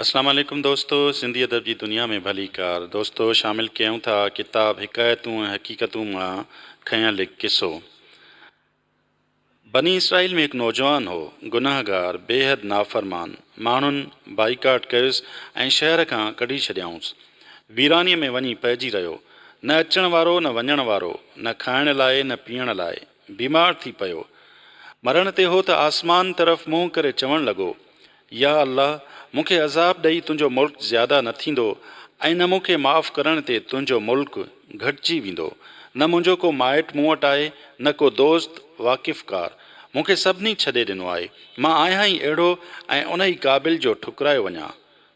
اسلام عليڪم دوستو سنڌي ادب جي دنيا ۾ ڀليڪار دوستو شامل ڪيون ٿا ڪتاب حڪايتون ۽ حقيقتون مان کنيل هڪ قصو بني اسرائيل ۾ هڪ نوجوان هو گناهگار بيحد نافرمان ماڻهن بائيڪاٽ ڪيس ۽ شهر کان ڪڍي ڇڏيائونس ويراني ۾ وڃي پئجي رهيو نه اچڻ وارو نه وڃڻ وارو نه کائڻ لاء نه پيئڻ لاء بيمار ٿي پيو. مرڻ تي هو ته آسمان طرف منهن ڪري چوڻ لڳو، يا الله! مون کي عذاب ڏئي تنهنجو ملڪ زياده نه ٿيندو ۽ نه مون کي معاف ڪرڻ تي تنهنجو ملڪ گهٽجي ويندو. نه منهنجو ڪو مائٽ مون وٽ آهي، نه ڪو دوست، واقفڪار. مون کي سڀني ڇڏي ڏنو آهي. مان آهيان ئي اهڙو ۽ انهي قابل جو ٺڪرايو وڃان.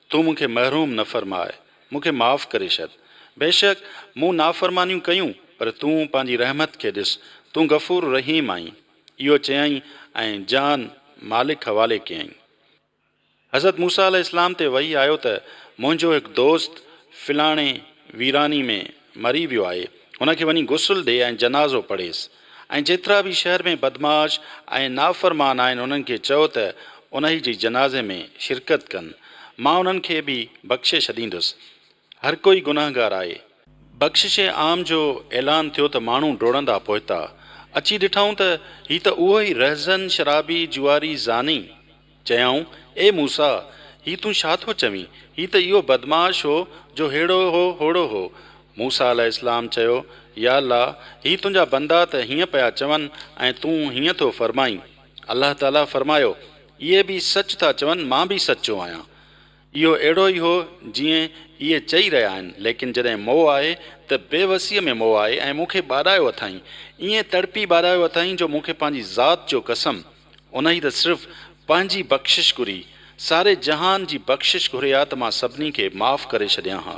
تون مون کي محروم نه فرماء، مون کي معاف ڪري ڇڏ. بيشڪ مون نافرمانيون ڪيون، پر تون پنهنجي رحمت کي ڏس، تون غفور رحيم آهين. اهو چيائين ۽ جان مالڪ حوالي ڪيائين. حضرت موسيٰ عليه السلام تي وحي آيو ته منهنجو هڪ دوست فلاڻي ويراني ۾. مري ويو آهي هن کي وڃي غسل ڏي ۽ جنازو پڙهيس ۽ جيترا به شهر ۾ بدمعاش ۽ نافرمان آهن انهن کي چئو ته انهي جي جنازي ۾ شرڪت ڪن مان انهن کي به بخشي ڇڏيندس هر ڪوئي گنهگار آهي. بخشش عام جو اعلان ٿيو ته ماڻهو ڊوڙندا پهتا اچي ڏٺائون ته هي ته اهو ئي رهزن شرابي جوئاري زاني چيائون، اي موسيٰ! هي تون ڇا ٿو چوين؟ هي ته اهو بدمعاش هو، جو هيڙو هو، هوڙو هو. موسيٰ عليه السلام چيو، يا الله! هي تنهنجا بندا ته هيئن پيا چون ۽ تون هيئن ٿو فرمائين. الله تعاليٰ فرمايو، اهي به سچ ٿا چون، مان به سچو آهيان. اهو اهڙو ئي هو، جيئن اهي چئي رهيا آهن، ليڪن جڏهن مئو آهي، ته بي وسيء ۾ مئو آهي ۽ مون کي ٻاڏايو اٿائين، ائين تڙپي ٻاڏايو اٿائين، جو مون کي پنهنجي ذات جو قسم! انهيء ته صرف پنهنجي بخشش گهري، ساري جهان جي بخشش گهري ها ته مان سڀني کي معاف ڪري ڇڏيان ها.